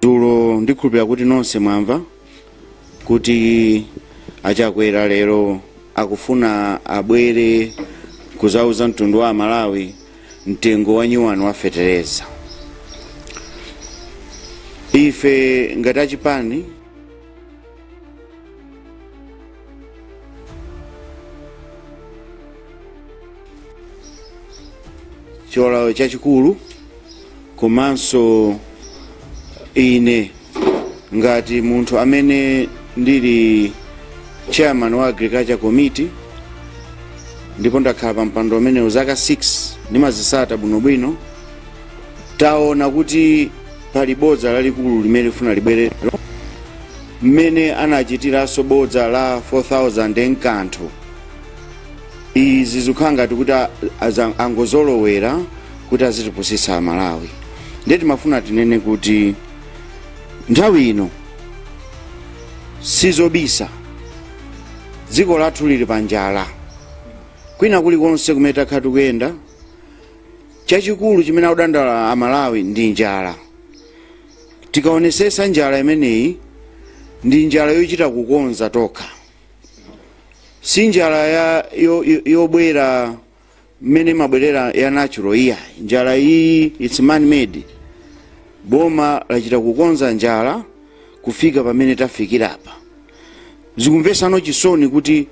dzulo ndikhulupira kuti nonse mwamva kuti achakwera lero akufuna abwere kuzauza mtundu wa amalawi mtengo wa nyuwani wa fetereza ife ngati achipani cholowa m'malo chachikulu komanso ine ngati munthu amene ndili chairman wa agriculture committee ndipo ndakhala pa mpando umenewu zaka 6 ndimazisata bwinobwino taona kuti pali bodza lalikulu limene lifuna libwere lero mmene anachitiranso bodza la 4000 n'kanthu izi zikukhala ngati kuti a- aza- angozolowera kuti azitipusitsa amalawi ndiye timafuna tinene kuti nthawi ino sizobisa dziko lathu lili pa njala kwina kulikonse kumene takhala tikuyenda chachikulu chimene akudandaula amalawi ndi njala tikaonesesa njala imeneyi ndi njala yochita kukonza tokha si njala ya yo- yo- yobwera mmene imabwerera ya natural iyayi njala iyi its man made boma lachita kukonza njala kufika pamene tafikira apa zikumvesanso chisoni kuti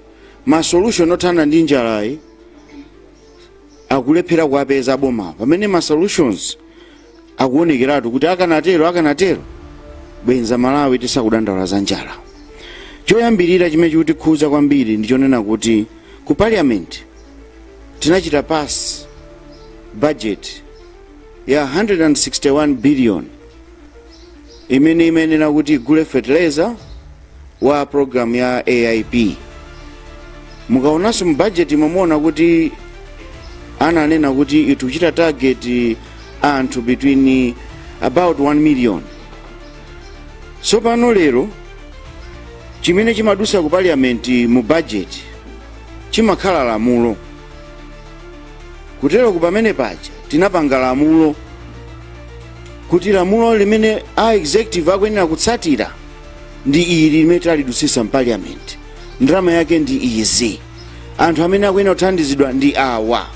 ma solution othana ndi njalayi akulephera kuwapeza boma pamene ma solutions akuonekeratu kuti akanatero akanatero bwenza malawi tisakudandaula za njala choyambirira chimene chikutikhuza kwambiri ndi chonena kuti ku parliament tinachita pass budget ya 161 billion imene imayenera kuti igule fertilizer wa program ya aip mukaonanso mu budget mumuona kuti ananena kuti ikuchita target anthu between about 1 million tsopano lero chimene chimadusa ku parliament mu budget chimakhala lamulo kuteroku pamene paja tinapanga lamulo kuti lamulo limene a executive akuyenera kutsatira ndi ili limene talidutsisa mpaliyamenti ndalama yake ndi izi anthu amene akuyenera kuthandizidwa ndi awa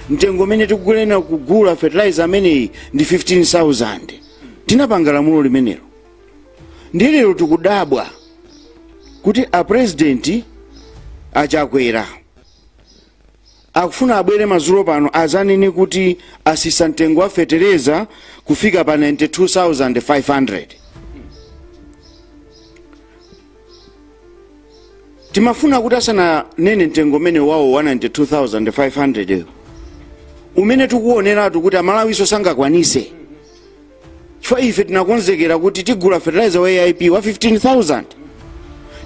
mtengo umene tikuyenera kugula fertilizer ameneyi ndi 15000 tinapanga lamulo limenelo ndiye lero tikudabwa kuti a president achakwera akufuna abwere mazulo pano azanene kuti atsitsa mtengo wa fetereza kufika pa 92500 timafuna kuti asananene mtengo umene wawo wa 92500 umene tikuwoneratu kuti amalawiso sangakwanise chifukwa ife tinakonzekera kuti tigula fertilizer wa aip wa 15000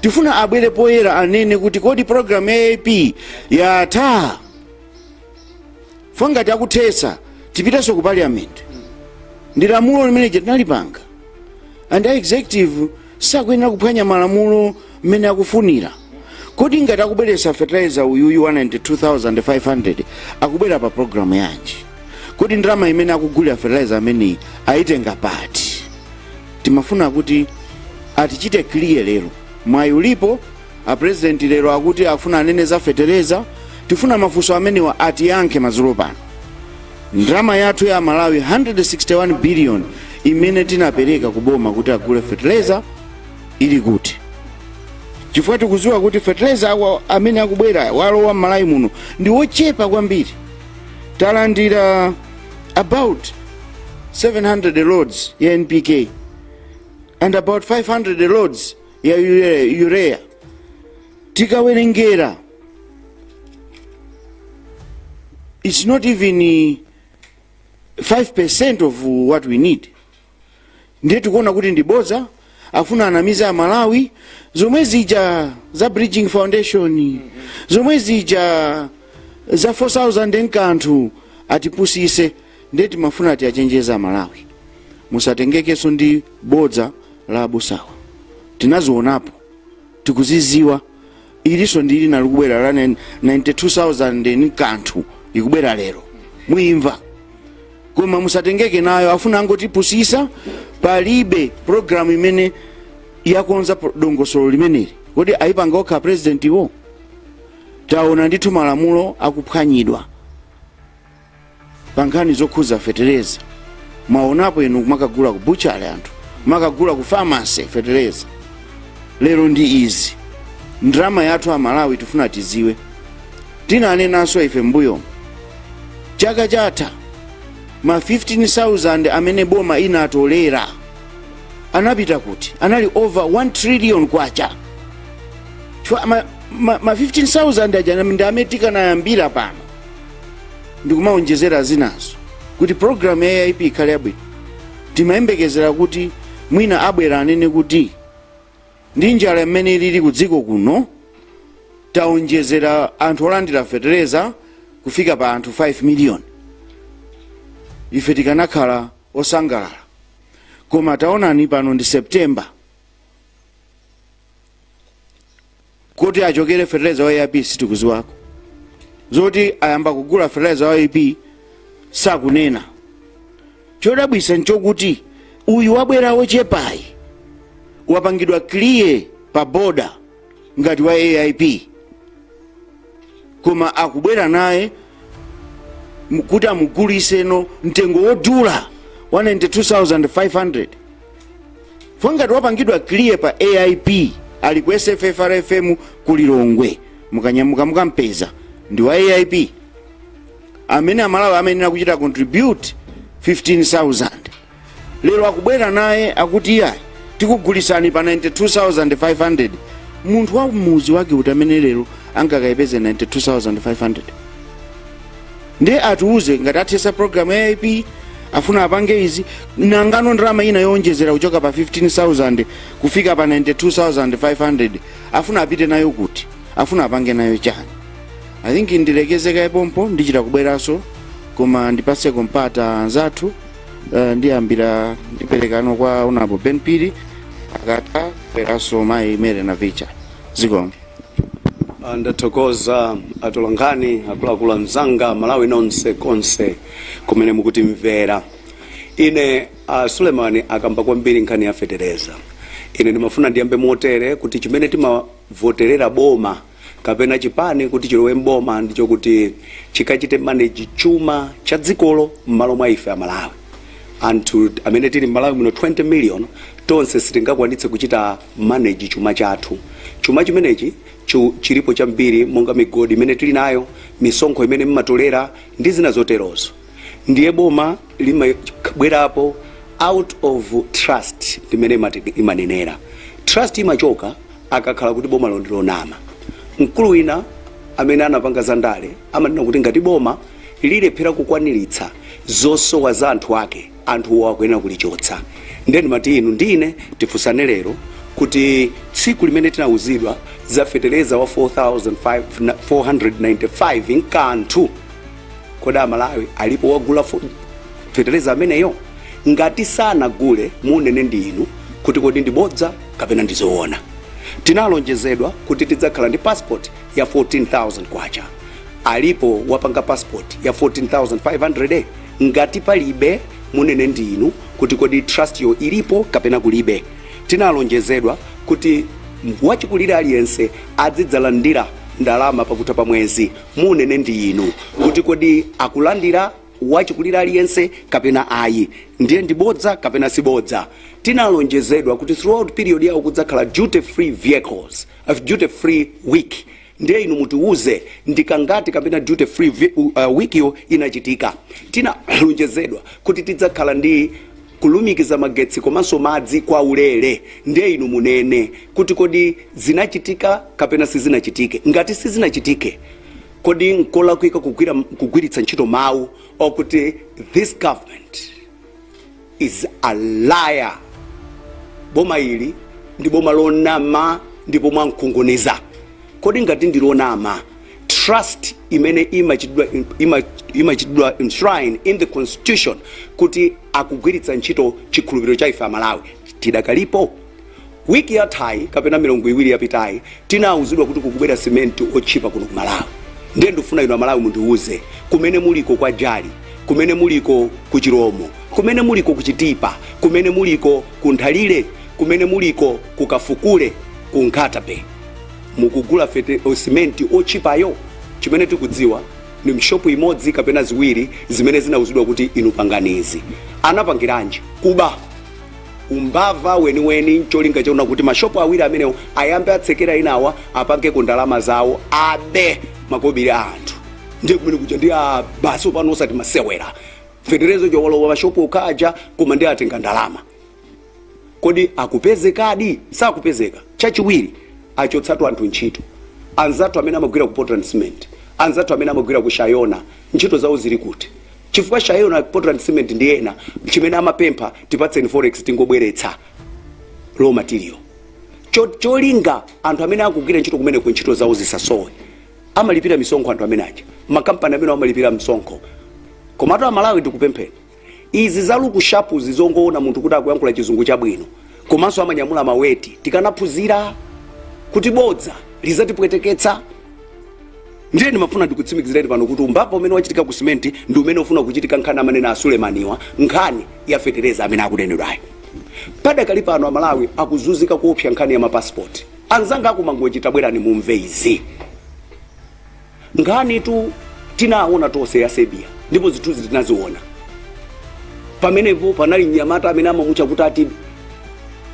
tifuna abwere poyera anene kuti kodi program ya aip yatha ngati akuthetsa tipitenso ku parliament ndi lamulo limene tinalipanga and a executive sakuyenera kuphwanya malamulo mmene akufunira kodi ngati akubweretsa fertilizer uyuyu wa 92500 akubwera pa programu yanji kodi ndalama imene akugulira fertilizer ameneyi ayitenga pati timafuna kuti atichite clear lero mwayi ulipo A president lero akuti afuna anene za fetereza, tifuna mafunso amenewa atiyankhe madzulo pano. Ndalama yathu ya aMalawi 161 billion imene tinapereka ku boma kuti agule fetereza ili kuti? Chifukwa tikudziwa kuti fetereza wa- amene akubwera walowa m'Malawi muno ndi wochepa kwambiri. Talandira about 700 loads ya NPK and about 500 loads ya ure- urea tikawerengera it's not even eh, 5% of what we need ndiye tikuona kuti ndi bodza afuna anamize amalawi zomwe zija za bridging foundation zomwe zija za 4000 n'kanthu atipusise ndiye timafuna tiachenjeze amalawi musatengekenso ndi bodza la abusawa tinazionapo tikuziziwa ilinso ndi lina likubwera la 92000 ni kanthu ikubwera lero muimva koma musatengeke nayo afuna angotipusisa palibe programu imene yakonza dongosolo limeneli kodi ayipanga okha presidentiwo taona ndithu malamulo akuphwanyidwa pa nkhani zokhuza fetereza mwaonapo inu kumakagula ku butchery anthu kumakagula ku pharmacy fetereza lero ndi izi ndalama yathu amalawi tifuna tiziwe tinanenanso ife mbuyomu chaka chatha ma 15000 amene boma inatolera anapita kuti anali over 1 trillion kwacha chifukwa ma, ma, ma 15000 aja ndi amene tikanayambira pano ndikumaonjezera zinanso kuti programu ya aip ikhale yabwino timayembekezera kuti mwina abwera anene kuti ndi njala imene ilili ku dziko kuno taonjezera anthu olandira fetereza kufika pa anthu 5 miliyoni ife tikanakhala osangalala koma taonani pano ndi september kuti achokere fertilizer wa AIP sitikuziwako zoti ayamba kugula fertilizer wa AIP sakunena chodabwitsa nchokuti uyu wabwera wochepayi wapangidwa clear pa boda ngati wa AIP koma akubwera naye m- kuti amugulitseno mtengo wodula 92500 koma ngati wapangidwa clear pa aip ali ku sffrfm ku lilongwe mukanyamuke mukampeze ndi wa aip amene amalawi amayenera kuchita contribute 15000 lero akubwera naye akuti iyayi tikugulitsani pa 92500 munthu wa mudzi wake uti amene lero angakayipeze 92500 ndiye atiuze ngati athetsa program ya aip afuna apange izi nangano ndalama ina yowonjezera kuchoka pa 15000 kufika pa 92500 afuna apite nayo kuti afuna apange nayo chani i think ndilekeze kaye pompo ndichita kubweranso koma ndipatseko mpata anzathu Eh, ndiyambira ndiperekano kwa honourable ben phiri akatha abweranso mayi mary navicha zikomo Ah, ndathokoza atolankhani akuluakulu anzanga amalawi nonse konse kumene mukutimvera ine uh, suleman akamba kwambiri nkhani ya fetereza ine ndimafuna ndiyambe motere kuti chimene timavoterera boma kapena chipani kuti chilowe m'boma ndi chokuti chikachite manage chuma cha dzikolo m'malo mwa ife amalawi anthu amene tili m'malawi muno 20 million tonse sitingakwanitse kuchita manage chuma chathu chuma chimenechi chu- chilipo chambiri monga migodi imene tili nayo misonkho imene mmatolera ndi zina zoterozo ndiye boma limabwerapo out of trust limene imati- imanenera trust imachoka akakhala kuti boma lonama mkulu wina amene anapanga za ndale amanena kuti ngati boma lilephera kukwaniritsa zosowa za anthu ake anthuwo akuyenera kulichotsa ndiye ndimati inu ndine tifunsane lero kuti tsiku limene tinawuzidwa za fetereza wa 4495 nkanthu kodi amalawi alipo wagula fo- fetereza ameneyo ngati sanagule munene ndi inu kuti kodi ndi bodza kapena ndi zoona tinalonjezedwa kuti tidzakhala ndi passport ya 14000 kwacha alipo wapanga passport ya 14500 ngati palibe munene ndi inu kuti kodi trust yo ilipo kapena kulibe tinalonjezedwa kuti wachikulire aliyense azidzalandira ndalama pakutha pa mwezi Munene ndi inu kuti kodi akulandira wachikulire aliyense kapena ayi. Ndiye ndi bodza kapena si bodza? Tinalonjezedwa kuti throughout period yawo kudzakhala duty free vehicles, uh, duty free week. Ndiye inu mutiuze ndi kangati kapena duty free vi- uh, week yo inachitika. Tinalonjezedwa kuti tidzakhala ndi kulumikiza magetsi komanso madzi kwa ulere ndiye inu munene kuti kodi zinachitika kapena sizinachitike ngati sizinachitike kodi nkolakwika kugwira kugwiritsa ntchito mawu okuti this government is a liar boma ili ndi boma lonama ndipo mwamkunguniza kodi ngati ndi lonama trust imene imachitidwa enshrine in the constitution kuti akugwiritsa ntchito chikhulupiriro cha ife amalawi tidakalipo wiki yathayi kapena milungu iwiri yapitayi tinawuzidwa kuti kukubwera simenti otchipa kuno ku malawi ndiye ndifuna inu amalawi mundiwuze kumene muliko kwa jali kumene muliko ku chiromo kumene muliko ku chitipa kumene muliko ku nthalire kumene muliko ku kafukule ku nkhatabe mukugula fete- simenti otchipayo chimene tikudziwa ni mshopu imodzi kapena ziwiri zimene zinauzidwa kuti inu pangani izi anapangiranji kuba umbava weniweni ncholinga chakuti mashopu awiri amenewo ayambe atsekera inawa apangeko ndalama zawo abe makobiri a anthu ndiye kumene kuja ndi a basi opano osati masewera feterezo chowalowa mashopu okhaja koma ndi atenga ndalama kodi akupezekadi sakupezeka chachiwiri achotsatu anthu ntchito anzathu amene amagwira ku portland cement anzathu amene amagwira ku shayona ntchito zawo zili kuti chifukwa shayona portland cement ndi ena chimene amapempha tipatseni forex tingobweretsa raw material Cho- cholinga anthu amene akugwira ntchito kumeneku ntchito zawo zisasowe amalipira misonkho anthu amene aja makampani amene amalipira msonkho komatu amalawi ndikupemphera izi za luku shapuzi zongoona munthu kuti akuyankhula chizungu chabwino komanso amanyamula maweti tikanaphunzira kuti bodza lizatipweteketsa ndiye ndimafuna ndikutsimikizireni pano kuti umbava umene wachitika ku simenti ndi umene ufuna kuchitika nkhani amanena a sulemaniwa nkhani ya fetereza amene akunenedwayo padakali pano amalawi akuzunzika kuopsa nkhani ya mapasipoti anzanga akumangochi tabwerani mumve izi nkhanitu tinaona tonse ya serbia ndipo zithunzi tinaziona pamenepo panali mnyamata amene amamutchula kuti ati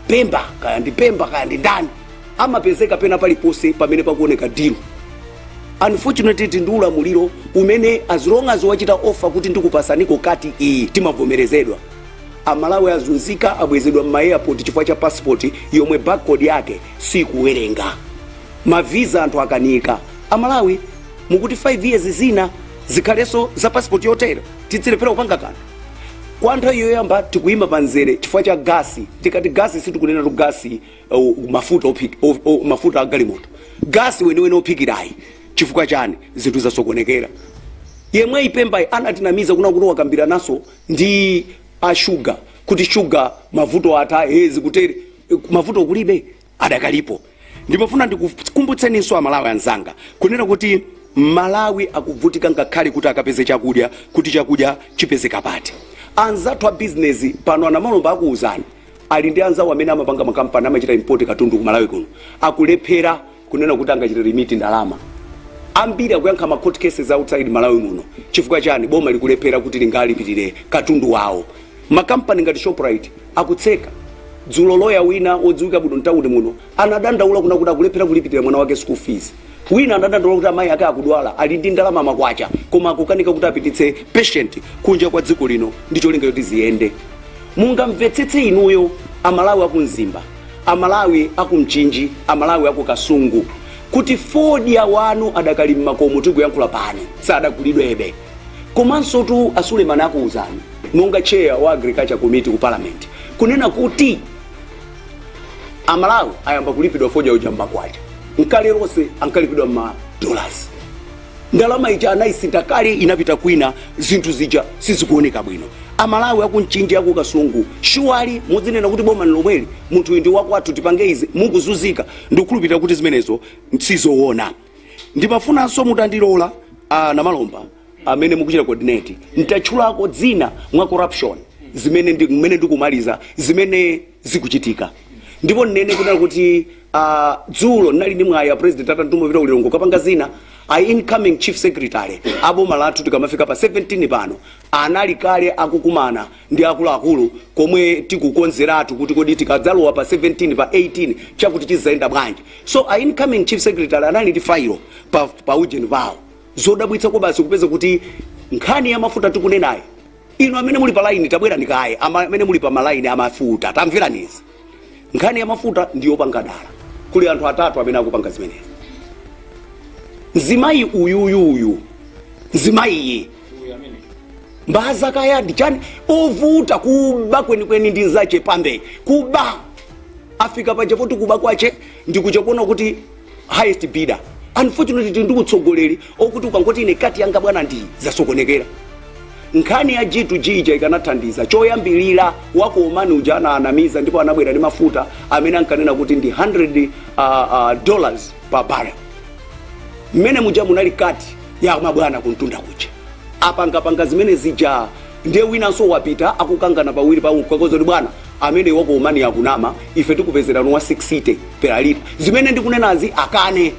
pemba kaya ndi pemba kaya ndi ndani amapezeka pena paliponse pamene pakuoneka dilu unfortunately tili ndi ulamuliro umene as long as wachita ofa kuti ndikupatsaniko kati iyi imavomerezedwa amalawi azunzika abwezedwa m'maeyapoti chifukwa cha pasipoti yomwe barcode yake sikuwerenga maviza anthu akanika amalawi mukuti 5 years zina zikhalenso za passport yotero tizilephera kupanga kanthu kwa nthawi yoyamba tikuyima pa mzere chifukwa cha gasi tikati gasi sitikunenatu gasi uh, mafuta ophik- o- o- mafuta a galimoto gasi weniweni ophikirayi chifukwa chani zinthu zasokonekera yemweyi pembayi anatinamiza kuna kuti wakambirananso ndi ashuga kuti shuga mavuto atha e zikutere mavuto kulibe adakalipo ndimafuna ndikukumbutseninso amalawi anzanga kunena kuti malawi akuvutika ngakhale kuti akapeze chakudya kuti chakudya chipezeka bwanji anzathu a bizinesi pano a namalomba akuwuzani ali ndi anzawo amene amapanga makampani amachita import katundu ku malawi kuno akulephera kunena kuti angachita remit ndalama ambiri akuyankha ma court cases outside malawi muno chifukwa chani boma likulephera kuti lingalipirire katundu wawo Makampani ngati Shoprite akutseka. Dzulo loya wina wodziwika bwino m'tauni muno anadandaula kuna kuti akulephera kulipirira mwana wake school fees. Wina anadandaula kuti amayi ake akudwala ali ndi ndalama makwacha koma akukanika kuti apititse patient kunja kwa dziko lino ndi cholinga choti ziyende. Mungamvetsetse inuyo Amalawi aku Mzimba, Amalawi aku Mchinji, Amalawi aku Kasungu kuti fodya wanu adakali m'makomo tikuyankhula pano sadagulidwebe. komansotu a suleman akuwuzani monga chair wa agriculture committee ku parliament kunena kuti amalawi ayamba kulipidwa fodya uja mmakwacha kale lonse ankalipidwa mma dollars ndalama ija anayisintha kale inapita kwina zinthu zija sizikuoneka bwino amalawi akumchinji akukasungu shuwadi muzinena kuti boma nlomweli munthu uyu ndi wakwathu tipange izi mukuzunzika ndikukhulupirira kuti zimenezo si zoona ndimafunanso mutandilola a namalomba amene mukuchita coordinate ntatchulako dzina mwa corruption zimene ndi- mmene ndikumaliza zimene zikuchitika ndipo nnene kunena kuti ah, dzulo ndinali ndi mwayi a president anantuma pita ku lilongwe kapanga zina a incoming chief secretary aboma lathu tikamafika pa 17 pano anali kale akukumana ndi akuluakulu komwe tikukonzeratu kuti kodi tikadzalowa pa 17 pa 18 chakuti chidzayenda bwanji so a incoming chief secretary anali ndi failo pa, pa ujeni pawo zodabwitsa kwabasi kupeza kuti nkhani ya mafuta tikunenayo inu amene muli pa line tabwerani kaye ama- amene muli pa malaini amafuta tamverani izi nkhani ya mafuta ndiyopanga dala kuli anthu atatu amene akupanga zimenezi mzimayi uyuyuyu mzimayiyi mbaza kaya ndi chani ovuta kuba kwenikweni ndi nzache pambe kuba afika paja poti kuba kwache ndikuchita kuona kuti highest bidder unfortunately tili ndi utsogoleri okuti ukangoti ine cut yanga bwana ndi zasokonekera nkhani ya g to g ija ikanathandiza choyambirira wa ku omani uja anaanamiza ndipo anabwera ndi mafuta amene ankanena kuti ndi 100 uh, uh, dollars per barrel mmene muja munali cut ya mabwana kuntunda kuja apangapanga zimene zija Ndiye winanso wapita akukangana pawiri pawo mkukauza kuti bwana ameneyi wa ku omani akunama ife tikupezerani wa 60 per liter zimene ndikunenazi akane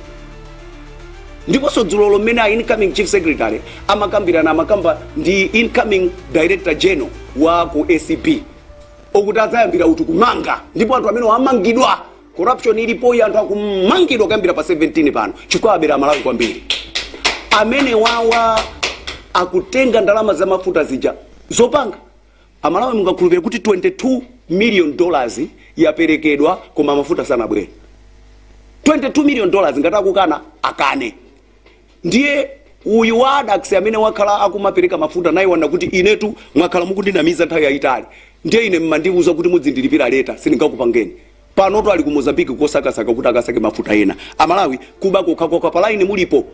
ndiponso dzulolo mmene a incoming chief secretary amakambirana amakamba ndi incoming director general wa ku acb okuti adzayambira uti kumanga ndipo anthu amene amangidwa corruption ilipoyi anthu akumangidwa kuyambira pa 17 pano chifukwa abera amalawi kwambiri amenewawa akutenga ndalama za mafuta zija zopanga amalawi mungakhulupirire kuti 22 million dollars yaperekedwa koma mafuta sanabwere 22 million dollars ngati akukana akane Ndiye uyu wa Addax amene wakhala akumapereka mafuta naye waona kuti inetu mwakhala mukundinamiza nthawi yayitali ndiye ine mmandiuza kuti mudzindilipira later sindingakupangeni panotu ali ku Mozambique kosakasaka kuti akasake mafuta ena amalawi kuba kokhakokha pa line mulipo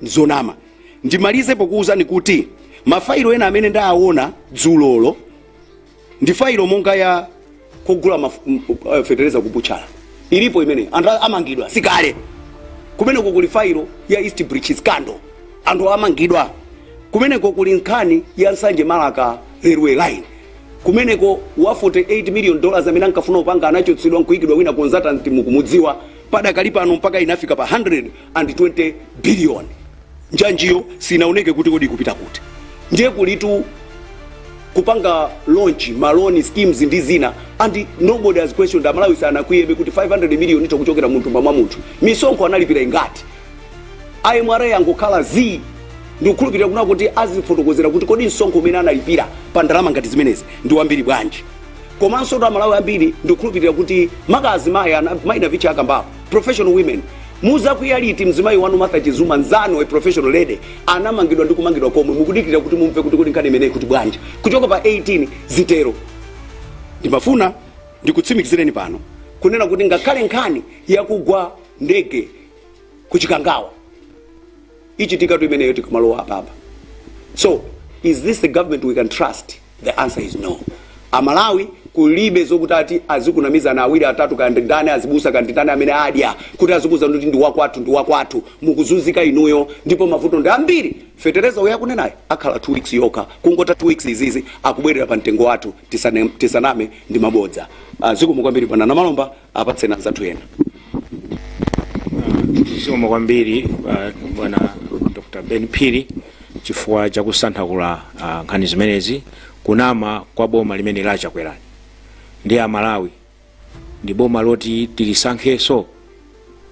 zonama ndimalize pokuwuzani kuti mafailo ena amene ndaawona dzulolo ndi failo monga ya kugula maf- m- eh, fetereza ku butchala ilipo imene anthu a- amangidwa sikale kumeneko kuli failo ya east bridge scandal anthu amangidwa kumeneko kuli nkhani ya nsanje marka railway line kumeneko wa 48 million dollars amene ankafuna kupanga anachotsedwa nkuikidwa wina consultant mukumudziwa padakali pano mpaka inafika pa 120 billion njanjiyo sinaoneke kuti kodi ikupita kuti ndiye kulitu kupanga launch ma loan schemes ndi zina and nobody has questioned amalawi sanakwiyebe kuti 500 million ito kuchokera munthu mwa munthu misonkho analipira ingati mra yangokhala zii ndikukhulupirira kunena kuti azifotokozera kuti kodi msonkho umene analipira pa ndalama ngati zimenezi ndi wambiri bwanji komanso kuti amalawi ambiri ndikukhulupirira kuti maka azimayi ana- mai navicha akambapo professional women muzakwiya liti mzimayi wanu martha chizuma nzanu a professional lady anamangidwa ndi kumangidwa komwe mukudikira kuti mumve kuti kodi nkhani imeneyi ikuti bwanji kuchoka pa 18 zitero ndimafuna ndikutsimikizireni pano kunena kuti ngakhale nkhani yakugwa ndege ku chikangawa ichitikatu imeneyo tikamalowa apapa so is this the government we can trust The answer is no. Amalawi kulibe zokuti ati azikunamizana awiri atatu ka ndi ndani azibusa ka ndi ndani amene adya kuti azikuuzani kuti ndi wakwathu ndi wakwathu mukuzunzika inuyo ndipo mavuto ndi ambiri fetereza uyo akunenayo akhala 2 weeks yokha kungotha 2 weeks izizi akubwerera pa mtengo wathu tisane, tisaname ndi mabodza uh, zikomo kwambiri bwana namalomba apatseni anzathu ena zikomo kwambiri uh, bwana dr ben phiri chifukwa cha kusanthakula uh, nkhani zimenezi kunama kwa boma limene lachakwerani ndi amalawi ndi boma loti tilisankheso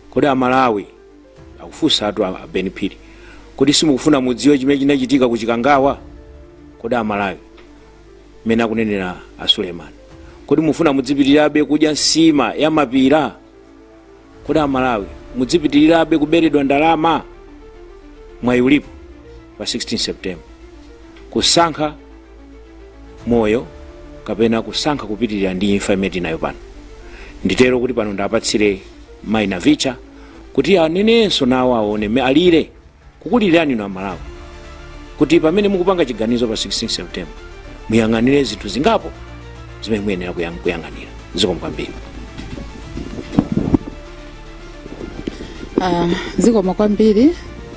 kodi amalawi akufunsatu a- a ben phiri kodi simukufuna mudziwe chimene chinachitika ku chikangawa kodi amalawi mmene akunenera a suleiman kodi mufuna mudzipitirirabe kudya nsima ya mapira kodi amalawi mudzipitirirabe kuberedwa ndalama mwayi ulipo pa 16 september kusankha moyo kapena kusankha kupitirira ndi imfa imene tinayo pano nditero kuti pano ndapatsire mayi navicha kuti anenenso nawo aone mmene alire kukulilirani inu amalawi kuti pamene mukupanga chiganizo pa 16 september muyang'anire zinthu zingapo zimene muyenera kuyang- kuyang'anira zikomo kwambiri Ah, zikomo kwambiri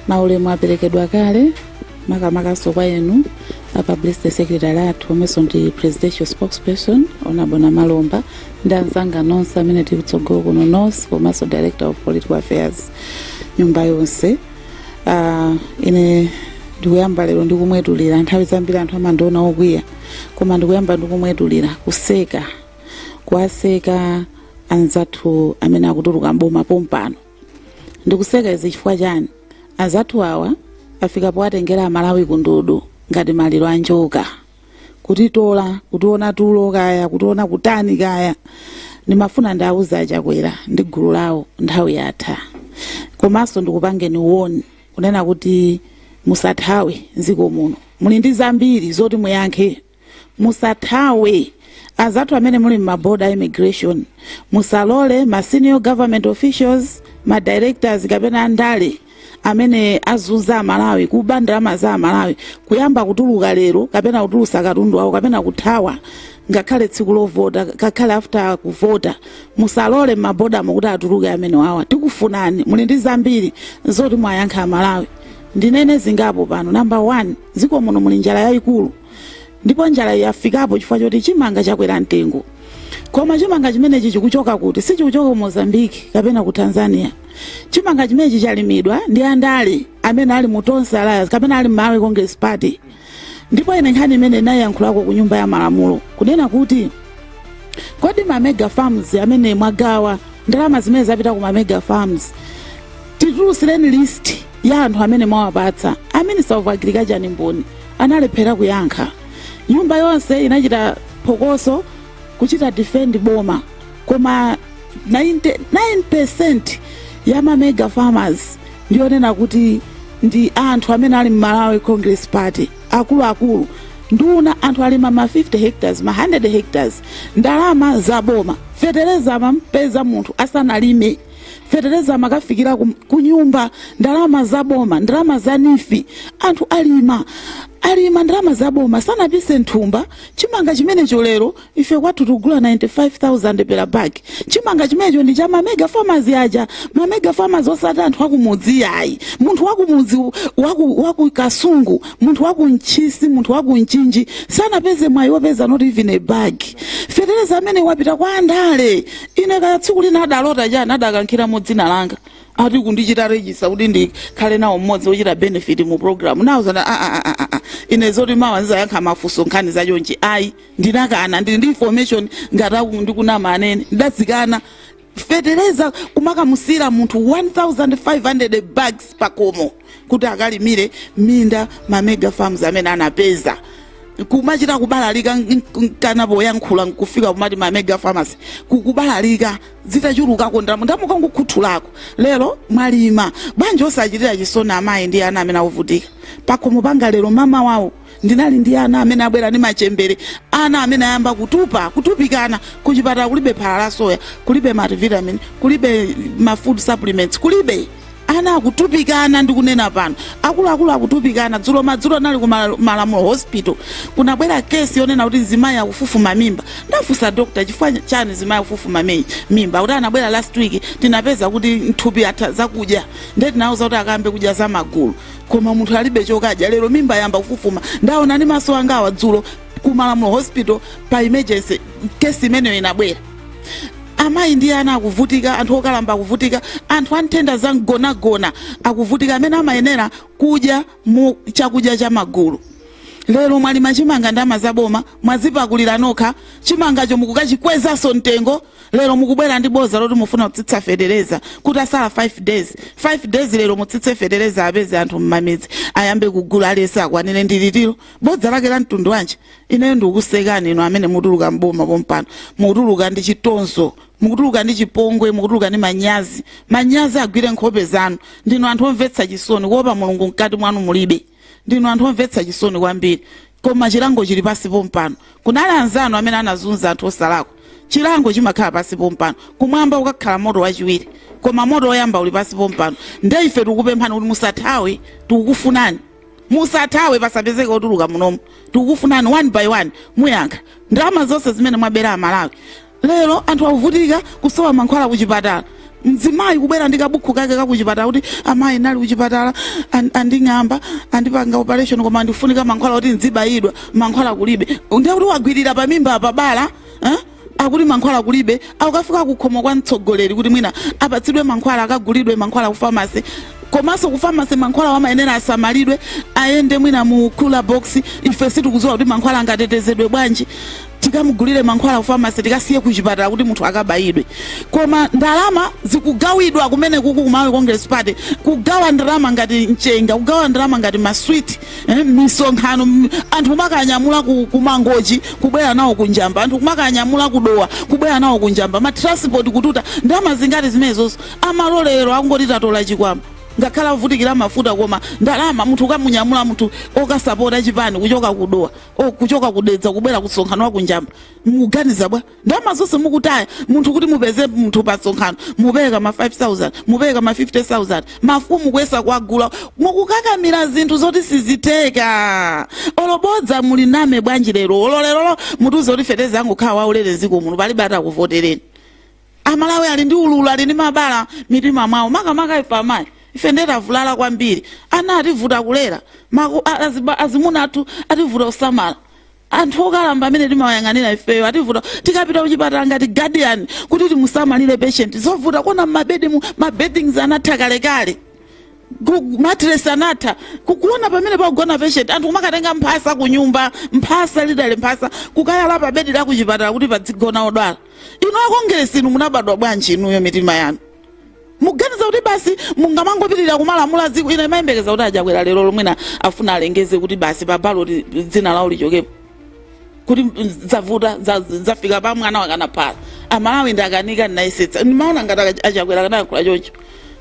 maulemu aperekedwa kale makamakanso kwa inu a publicity secretary athu omwenso ndi presidential spokesperson onabo namalomba ndi anzanga nonse amene tili kutsogolo kuno nonse komanso director of political affairs nyumba yonse uh, ine ndikuyamba lero ndikumwetulira nthawi zambiri anthu amandiona okwiya koma ndikuyamba ndikumwetulira kuseka kuwaseka anzathu amene akutuluka mboma pompano ndikuseka izi chifukwa chani anzathu awa afika powatengera amalawi kumtoso ngati maliro a njoka kutitola kutiona tulo kaya kutiona kutani kaya ndimafuna ndiwauze achakwera ndi gulu lawo nthawi yatha komanso ndikupangeni woni kunena kuti musathawe mdziko muno muli ndi zambiri zoti muyankhe musathawe anzathu amene muli m'maboda immigration musalole ma senior government officials ma directors kapena andale amene azunza amalawi kuba ndalama za amalawi kuyamba kutuluka lero kapena kutulusa katundu wawo kapena kuthawa ngakhale tsiku lovota ngakhale after kuvota musalole m'mabodamo kuti atuluke amenewa tikufunani muli ndi zambiri zoti muwayankhe amalawi ndinene zingapo pano namba 1 dziko muno muli njala yayikulu ndipo njala yafikapo chifukwa choti chimanga chakwera mtengo koma chimanga chimenechi chikuchoka kuti sichikuchoka ku mozambique kapena ku tanzania chimanga chimenechi chalimidwa ndi andale amene ali mu tonse alliance kapena ali malawi congress party ndipo ine nkhani imene ndinayankhulako ku nyumba ya malamulo kunena kuti kodi ma mega farms amene mwagawa ndalama zimene zapita ku ma mega farms titulutsireni list ya anthu amene mwawapatsa a minister of agriculture ndi mboni analephera kuyankha nyumba yonse inachita phokoso kuchita defend boma koma 99% ya ma mega farmers ndiyonena kuti ndi anthu amene ali mmalawi congress party akuluakulu nduna anthu alima ma 50 hectares ma 100 hectares ndalama za boma fetereza amampeza munthu asanalime fetereza amakafikira ku nyumba ndalama za boma ndalama za neef anthu alima alima ndalama za boma sanapise mthumba chimanga chimenecho lero ife kwathu tikugula 95000 per bag chimanga chimenecho ndi cha mamega farmers aja mamega farmers osati anthu akumudzi ayi munthu wakumudzi waku, waku kasungu munthu waku ntchisi munthu waku mchinji sanapeze mwayi wopeza not even a bag fetereza amene wapita kwa andale Ine kaya tsiku lina adalota chani adakankhiramo dzina langa ati kundichita register kuti ndikhale nawo mmodzi wochita benefit mu program nawauza a a a a a ine zoti mawa ndizayankha mafunso nkhani za chonchi ayi ndinakana ndili ndi information ngati aku ndikunama anene ndidazikana fetereza kumakamusiyira munthu 1500 bags pakhomo kuti akalimire minda ma mega farms amene anapeza kumachita kubalalika nkana poyankhula nkufika kumati ma mega pharmacy kukubalalika zitachulukako ndalama ndamuka nkukhuthulako lero mwalima bwanji osachitira chisoni amayi ndi ana amene akuvutika pakhomo panga lero mmamawawu ndinali ndi ana amene abwera ndi machembere ana amene ayamba kutupa kutupikana kuchipatala kulibe phala la soya kulibe multivitamin kulibe ma food supplements kulibe ana akutupikana ndikunena pano akuluakulu akutupikana dzulo madzulo ndinali ku malamulo hospital kunabwera kesi yonena kuti mzimayi akufufuma mimba ndafunsa dokta chifukwa chani mzimayi akufufuma mi- mimba akuti anabwera last week tinapeza kuti mthupi atha zakudya ndiye tinawauza kuti akayambe kudya za magulu koma munthu alibe chokadya lero mimba yayamba kufufuma ndaona ndi maso angawa dzulo ku malamulo hospital pa emergency kesi imeneyo inabwera amayi ndi ana akuvutika anthu okalamba akuvutika anthu a nthenda za mgonagona akuvutika amene amayenera kudya mu chakudya cha magulu lero mwalima chimanga ndalama za boma mwazipakulira nokha chimangacho mukukachikwezanso mtengo lero mukubwera ndi boza loti mufuna kutsitsa fetereza kuti atsala 5 days 5 days lero mutsitse fetereza apezeke anthu mmamidzi ayambe kugula alesi akwanire ndi litilo bodza lake la mtundu wanji ineyo ndikukusekani inu amene mutuluka mboma pompano mukutuluka ndi chitonzo mukutuluka ndi chipongwe mukutuluka ndi manyazi manyazi agwire nkhope zanu ndinu anthu omvetsa chisoni kuopa mulungu mkati mwanu mulibe ndinu anthu omvetsa chisoni kwambiri koma chilango chili pasi pompano kunali anzanu amene anazunza anthu osalakwa chilango chimakhala pasi pompano kumwamba kukakhala moto wachiwiri koma moto woyamba uli pasi pompano nde ife tikukupemphani kuti musathawe tikukufunani musathawe pasapezeke otuluka munomu tikukufunani one by one muyankha ndalama zonse zimene mwabera amalawi lero anthu akuvutika kusowa mankhwala kuchipatala mzimayi kubwera ndi kabukhu kake kakuchipatala kuti amayi ndinali kuchipatala anding'amba andipanga operation koma ndifunika mankhwala kuti ndzibayidwa mankhwala kulibe ndiye kuti wagwirira pamimba pabala akuti mankhwala kulibe akukafika kukhomo kwa mtsogoleri kuti mwina apatsidwe mankhwala akagulidwe mankhwala ku famasi komanso ku famasi mankhwalawo amayenera asamalidwe ayende mwina mu cooler box ife sitikudziwa kuti mankhwala angatetezedwe bwanji tikamugulire mankhwala ku famasi tikasiye ku chipatala kuti munthu akabayidwe koma ndalama zikugawidwa kumene kuku ku malawi congress party kugawa ndalama ngati mchenga kugawa ndalama ngati maswiti misonkhano anthu kumakanyamula ku mangochi kubwera nawo ku njamba anthu kumakanyamula ku dowa kubwera nawo ku njamba matransport kututa ndalama zingati zimenezo zomwe olo lero akungoti tatola chikwama ngakhale avutikira mafuta koma ndalama munthu ukamunyamula munthu okasapota chipani kuchoka kudowa kuchoka kudedza kubwera kumsonkhano wa kunjamba muganiza bwa ndalama zonse mukutaya munthu kuti mupeze munthu pa msonkhano mupereka ma 5000 mupereka ma 50000 mafumu kuyesa kuwagula mukukakamira zinthu zoti sizitheka olo bodza muli muname bwanji lero olo lerolo mutiuze kuti fetereza angokhala waulere dziko muno palibe atakuvotereni amalawi ali ndi ululu ali ndi mabala mmitima mwawo makamaka ife amayi ife ndiye tavulala kwambiri ana ativuta kulera azimuna athu ativuta kusamala anthu okalamba amene timawayang'anira ifeyo ativuta tikapita kuchipatala ngati guardian kuti timusamalire patient zovuta kuona mmabedimu mabeddings anatha kalekale matres anatha kuona pamene pagona patient anthu kumakatenga mphasa kunyumba mphasa lidale mphasa kukayala pa bedi la kuchipatala kuti padzigona odwala inu akongeresi inu munabadwa bwanji inuyo mitima yanu muganiza kuti basi mungamangopitirira kumalamula dziko ine ndimayembekeza kuti achakwera lero lomwena afuna alengeze kuti basi pa baloti dzina lawo lichokepo kuti zavuta za- zafika pa mwana wakana phala amalawi ndakanika ndinayesetsa ndimaona ngati aka- achakwera akanayankhula choncho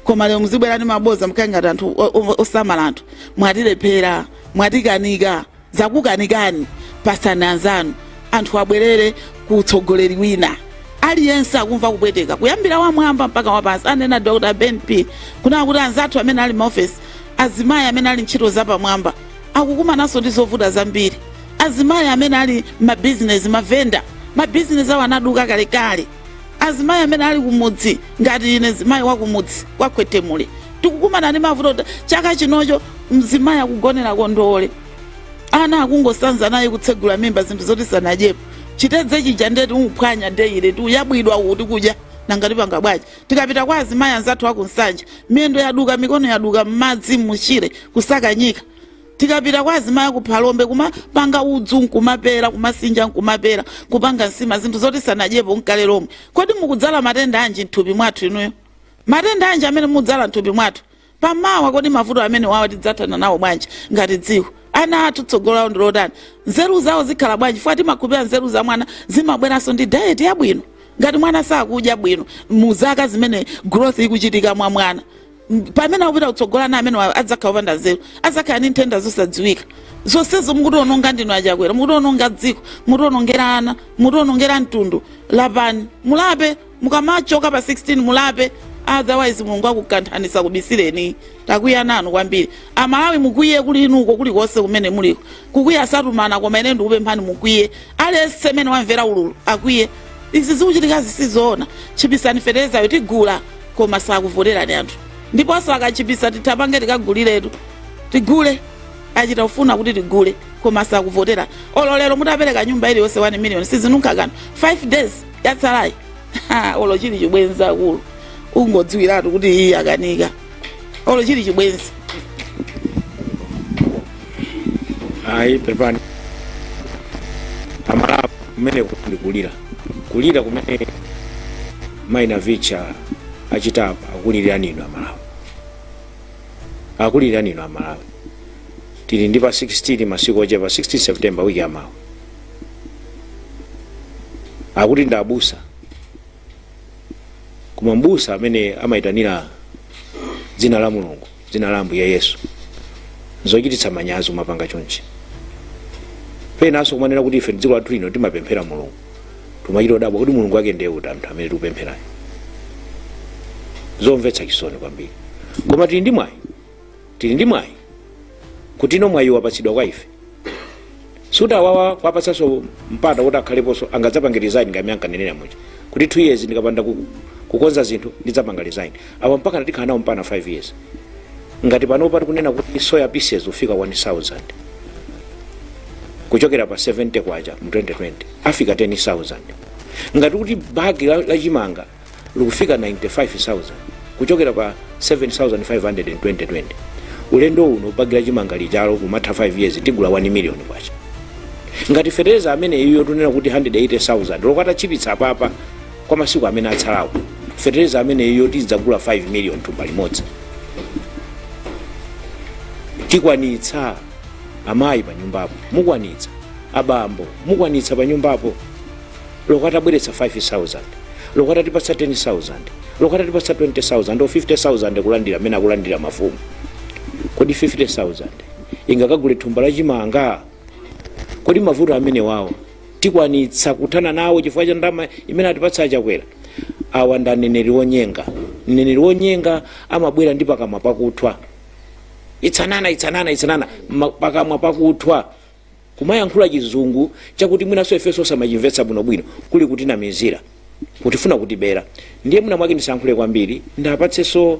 koma lero mukubwera ndi maboza nkukhala ngati anthu o- o- osamala anthu mwatilephera mwatikanika zakukanikani patsani anzanu anthu abwerere ku utsogoleri wina aliyense akumva kupweteka kuyambira wamwamba mpaka wapansi anena dr ben p kunena kuti anzathu amene ali m'maofesi azimayi amene ali ntchito zapamwamba akukumananso ndi zovuta zambiri azimayi amene ali mabizinesi mavenda mabizinesi awo anaduka kalekale azimayi amene ali kumudzi ngati ine mzimayi wakumudzi kwa khwetemule tikukumana ndi mavuto ta- chaka chinocho mzimayi akugonera kondowole ana akungosanza naye kutsegula m'mimba zinthu zoti sanadyepo chitedze chija ndeti uphwanya deyile ti uyabwidwa uti kudya nanga tipanga bwanji tikapita kwa azimayi anzathu akunsanje miyendo yaduka mikono yaduka m'madzi mutchire kusaka nyika tikapita kwa azimayi aku phalombe kumapana udzu nkumapera kumasinja nkumapera kupanga nsima zinthu zoti sanadyepo nkale lomwe kodi mukudzala matenda anji mthupi mwathu inuyo matenda anji amene mudzala mthupi mwathu pamawa kodi mavuto amenewawa tidzathana nawo bwanji ngati dziko ana athu tsogolo lawo ndilotani nzeru zawo zikhala bwanji chifukwa timakhulupirira nzeru za mwana zimabweranso ndi diet yabwino ngati mwana sakudya bwino mu zaka zimene growth ikuchitika mwa mwana pamene akupita kutsogolo ana amenewa adzakhala opanda nzeru adzakhala ndi nthenda zosadziwika zonsezo mukutiononga ndinu achakwera mukutiononga dziko mukutionongera ana mukutionongera mtundu lapani mulape mukamachoka pa 16 mulape otherwise mulungu akukanthani ndisakubisireni takwiya nanu kwambiri amalawi mukwiye kuli inuko kulikonse kumene muliko kukwiya satumana koma ine ndikupemphani mukwiye aliyense amene wamvera ululu akwiye izi zikuchitikazi sizoona tchipitsani feterezayo tigula koma sakuvoterani anthu ndiponso akatchipitsa tipange tikaguliretu tigule achita kufuna kuti tigule koma sakuvotera olo lero mutapereka nyumba iliyonse 1 million sizinunkha kanthu 5 days yatsalayi Ha, olo chili chibwenzi akulu ungodziwiratu kuti iyi akanika olo chili chibwenzi ayi pepani amalawi kumene ndikulira kulira kumene mayi navicha achitapa akulilirani inu amalawi akulilirani inu amalawi tili ndi pa 16 masiku ochepa 16 september wiki yamawa akuti ndi abusa koma mbusa amene amayitanira dzina la mulungu dzina la ambuye yesu zochititsa manyazi kumapanga chonchi penanso kumanena kuti ife dziko lathu lino timapemphera mulungu timachita kudabwa kuti mulungu wake ndiye uti anthu amene tikupempherayo zomvetsa chisoni kwambiri koma tili ndi mwayi tili ndi mwayi kuti uno mwayi wapatsidwa kwa ife sitawawa kuwapatsanso mpata kuti akhaleponso angadzapange resign ngati mmene ankanenera muja kuti 2 years ndikapanda ku- kukonza zinthu ndidzapanga resign apa mpaka tikhala nawo mpaka 5 years ngati panopa tikunena kuti soya pieces ufika 1000 kuchokera pa 70 kwacha mu 2020 afika 10000 ngati kuti bagi la, la chimanga likufika 95,000 kuchokera pa 7,500 in 2020 ulendo uno bagi la chimanga lijalo kumatha 5 years tigula 1 million kwacha ngati fetereza amene uyo tikunena kuti 180,000 loko atatchipitsa apapa kwa masiku amene atsalawo fetereza amene uyo tidzagula 5 million thumba limodzi tikwanitsa amayi pa nyumbapo mukwanitsa abambo mukwanitsa pa nyumbapo loko atabweretsa 5000 loko atatipatsa 10000 loko atatipatsa 20000 o 50000 kulandira amene akulandira mafumu kodi 50000 ingakagule thumba la chimanga kodi mavuto amene awo tikwanitsa kuthana nawo chifukwa cha ndalama imene atipatsa achakwera awa ndi aneneri onyenga mneneri wonyenga amabwera ndi pakamwa pakuthwa itsanana itsanana itsanana ma- pakamwa pakuthwa kumayankhula chizungu chakuti mwinanso ifenso osamachimvetsa bwinobwino kuli kutinamizira kutifuna kutibera ndiye mwina mwake ndisayankhule kwambiri ndiwapatsenso